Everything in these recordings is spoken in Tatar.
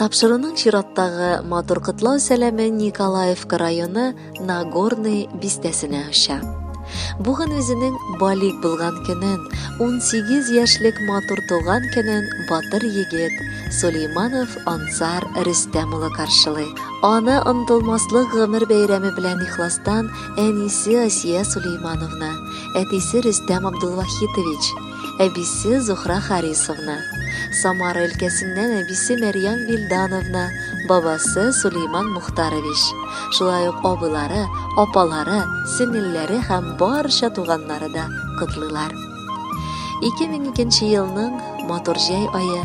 Тапшыруның чираттагы матур котлау сәламе Николаевка районы Нагорный бистәсенә оча. Бүген үзенең балик булган көнен, 18 яшьлек матур туган көнен батыр егет Сулейманов Ансар Рөстәм улы каршылый. Аны онтылмаслык гомер бәйрәме белән ихластан әнисе Асия Сулеймановна, әтисе Рөстәм Абдулвахитович, әбисе Зухра Харисовна, Самара өлкәсеннән әбисе Мәрьям Вильдановна, бабасы Сулейман Мухтарович, шулай ук абыйлары, апалары, сеңелләре һәм барча туганнары да котлыйлар. 2002 елның матур җәй айы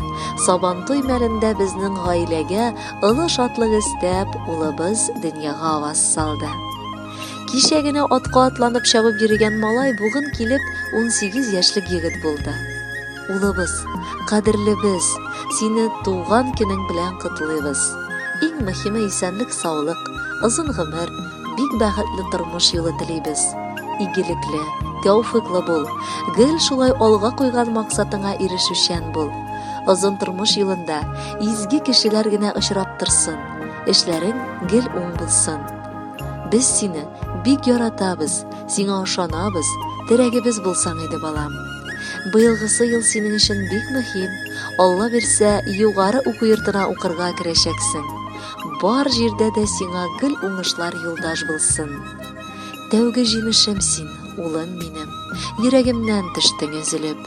сабантуй мәлендә безнең гаиләгә олы шатлык өстәп улыбыз дөньяга аваз салды Кичә генә атка атланып чабып йөргән малай бүген килеп 18 яшьлек егет булды. Улыбыз, кадерлебез, сине туган көнең белән котлыйбыз. Иң мөһиме исәнлек, саулык, озын гомер, бик бәхетле тормыш юлы телибез. Игелекле, тәүфыйклы бул, гел шулай алга куйган максатыңа ирешүчән бул. Озын тормыш юлында изге кешеләр генә очрап торсын, эшләрең гел уң булсын. Без сине бик яратабыз, сиңа ошанабыз, терәгебез булсаң иде, балам. Быелгысы ел синең өчен бик мөһим. Алла бирсә, югары уку йортына укырга керәчәксең. Бар җирдә дә сиңа гел уңышлар юлдаш булсын. Тәүге җимешем син, улым минем. Йөрәгемнән төштең өзелеп.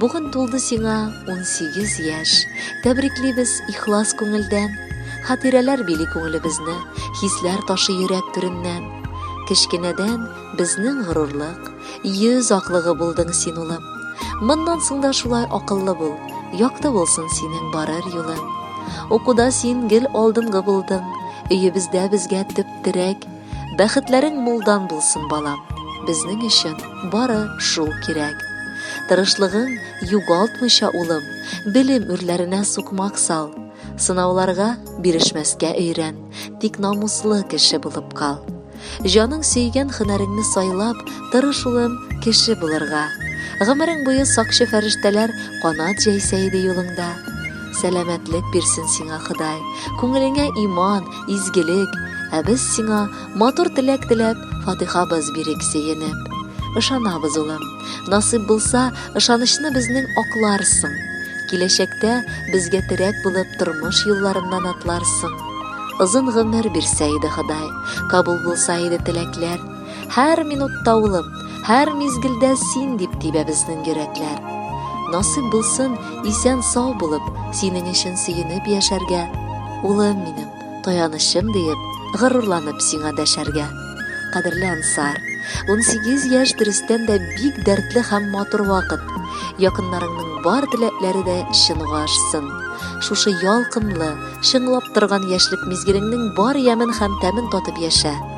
Бүген тулды сиңа 18 яшь. Тәбриклибез ихлас күңелдән. Хатирәләр били күңелебезне, хисләр ташы йөрәк түреннән. Кечкенәдән безнең горурлык, йөз аклыгы булдың син улым. Моннан соң да шулай акыллы бул, якты булсын синең барыр юлың. Укуда син гел алдынгы булдың, өебездә безгә төп терәк, Бәхетләрең мулдан булсын, балам. Безнең өчен бары шул кирәк. Тырышлыгың югалтмыйча, улым, белем үрләренә сукмак сал. Сынауларга бирешмәскә өйрән, тик намуслы кеше булып кал. Җаның сөйгән хөнәреңне сайлап, тырыш, улым, кеше булырга. Гомерең буе сакчы фәрештәләр канат җәйсә иде юлыңда. Сәламәтлек бирсен сиңа Ходай, күңелеңә иман, изгелек, ә без сиңа матур теләк теләп, фатихабыз бирик сөенеп. Ышанабыз, улым, насыйп булса, ышанычны безнең акларсың. Киләчәктә безгә терәк булып тормыш юлларыннан атларсың. Озын гомер бирсә иде Ходай, кабул булса иде теләкләр. Һәр минутта улым, һәр мизгелдә син дип тибә безнең йөрәкләр. Насыйп булсын, исән сау булып, синең өчен сөенеп яшәргә. Улым минем, таянычым диеп, горурланып сиңа дәшәргә. Кадерле Ансар, 18 яшь дөрестән дә бик дәртле һәм матур вакыт. Якыннарыңның бар теләкләре дә чынга ашсын. Шушы ялкынлы, чыңлап торган яшьлек мизгелеңнең бар ямен һәм тәмен татып яшә.